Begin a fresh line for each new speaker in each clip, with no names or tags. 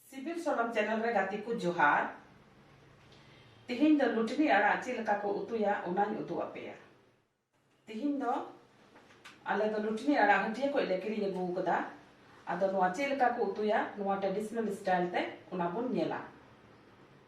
ᱥᱤᱵᱤᱞ ᱥᱚᱲᱚᱢ ᱪᱮᱱᱮᱞ ᱨᱮ ᱜᱟᱛᱮ ᱠᱚ ᱡᱚᱦᱟᱨ ᱛᱤᱦᱤᱧ ᱫᱚ ᱞᱩᱴᱱᱤ ᱟᱲᱟᱜ ᱪᱮᱫ ᱞᱮᱠᱟ ᱠᱚ ᱩᱛᱩᱭᱟ ᱚᱱᱟᱧ ᱩᱫᱩᱜ ᱟᱯᱮᱭᱟ ᱛᱤᱦᱤᱧ ᱫᱚ ᱟᱞᱮ ᱫᱚ ᱞᱩᱴᱱᱤ ᱟᱲᱟᱜ ᱦᱟᱹᱴᱤᱭᱟᱹ ᱠᱷᱚᱡ ᱞᱮ ᱠᱤᱨᱤᱧ ᱟᱹᱜᱩ ᱟᱠᱟᱫᱟ ᱟᱫᱚ ᱱᱚᱣᱟ ᱪᱮᱫ ᱞᱮᱠᱟ ᱠᱚ ᱩᱛᱩᱭᱟ ᱱᱚᱣᱟ ᱴᱨᱮᱰᱤᱥᱚᱱᱟᱞ ᱥᱴᱟᱭᱤᱞ ᱛᱮ ᱚᱱᱟ ᱵᱚᱱ ᱧᱮᱞᱟ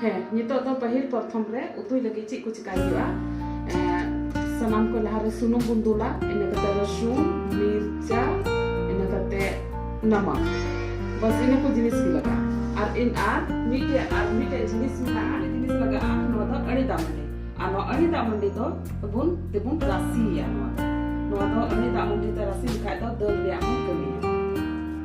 ᱦᱮᱸ ᱱᱤᱛᱚᱜ ᱫᱚ ᱯᱟᱹᱦᱤᱞ ᱯᱨᱚᱛᱷᱚᱢ ᱨᱮ ᱩᱛᱩᱭ ᱞᱟᱹᱜᱤᱫ ᱪᱮᱫ ᱠᱚ ᱪᱤᱠᱟᱹᱭ ᱦᱩᱭᱩᱜᱼᱟ ᱥᱟᱱᱟᱢ ᱠᱚ ᱞᱟᱦᱟ ᱨᱮ ᱥᱩᱱᱩᱢ ᱵᱚᱱ ᱫᱩᱞᱟ ᱤᱱᱟᱹ ᱠᱟᱛᱮ ᱨᱟᱹᱥᱩᱱ ᱢᱤᱨᱪᱟ ᱤᱱᱟᱹ ᱠᱟᱛᱮ ᱱᱟᱢᱟᱠ ᱵᱟᱥ ᱤᱱᱟᱹ ᱠᱚ ᱡᱤᱱᱤᱥ ᱜᱮ ᱞᱟᱜᱟᱜᱼᱟ ᱟᱨ ᱤᱱ ᱟᱨ ᱢᱤᱫᱴᱮᱡ ᱟᱨ ᱢᱤᱫᱴᱮᱡ ᱡᱤᱱᱤᱥ ᱢᱮᱱᱟᱜᱼᱟ ᱡᱤᱱᱤᱥ ᱞᱟᱜᱟᱜᱼᱟ ᱱᱚᱣᱟ ᱫᱚ ᱟᱹᱰᱤ ᱫᱟᱜ ᱢᱟᱹᱰᱤ ᱟᱨ ᱱᱚᱣᱟ ᱟᱹᱰᱤ ᱫᱟᱜ ᱢᱟᱹᱰᱤ ᱫᱚ ᱵᱚᱱ ᱛᱮᱵᱚᱱ ᱨᱟᱥᱮᱭᱟ ᱱᱚᱣᱟ ᱫᱚ ᱱᱚᱣᱟ ᱫᱚ ᱟᱹᱰᱤ ᱫᱟᱜ ᱢᱟᱹᱰᱤ ᱛᱮ ᱨᱟᱥᱮ ᱞᱮᱠᱷᱟᱡ ᱫᱚ ᱫᱟᱹᱞ ᱨᱮᱭᱟᱜ ᱦᱚᱸ ᱠᱟᱹᱢᱤᱭᱟ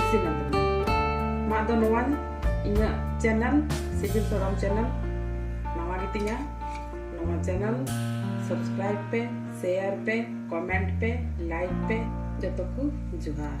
ᱤᱥᱤᱱ ᱮᱱ ᱛᱟᱵᱚᱱᱟ ᱢᱟ ᱟᱫᱚ ᱱᱚᱣᱟ ᱤᱧᱟᱹᱜ ᱪᱮᱱᱮᱞ ᱥᱤᱵᱤᱞ ᱥᱚᱨᱚᱢ ᱪᱮᱱᱮᱞ ᱱᱟᱣᱟ ᱜᱮᱛᱤᱧᱟ ᱱᱚᱣᱟ ᱪᱮᱱᱮᱞ ᱥᱟᱵᱥᱠᱨᱟᱭᱤᱵ ᱯᱮ ᱥᱮᱭᱟᱨ ᱯᱮ ᱠᱚᱢᱮᱱᱴ ᱯᱮ ᱞᱟᱭᱤᱠ ᱯᱮ ᱡᱚᱛᱚ ᱠᱚ ᱡᱚᱦᱟᱨ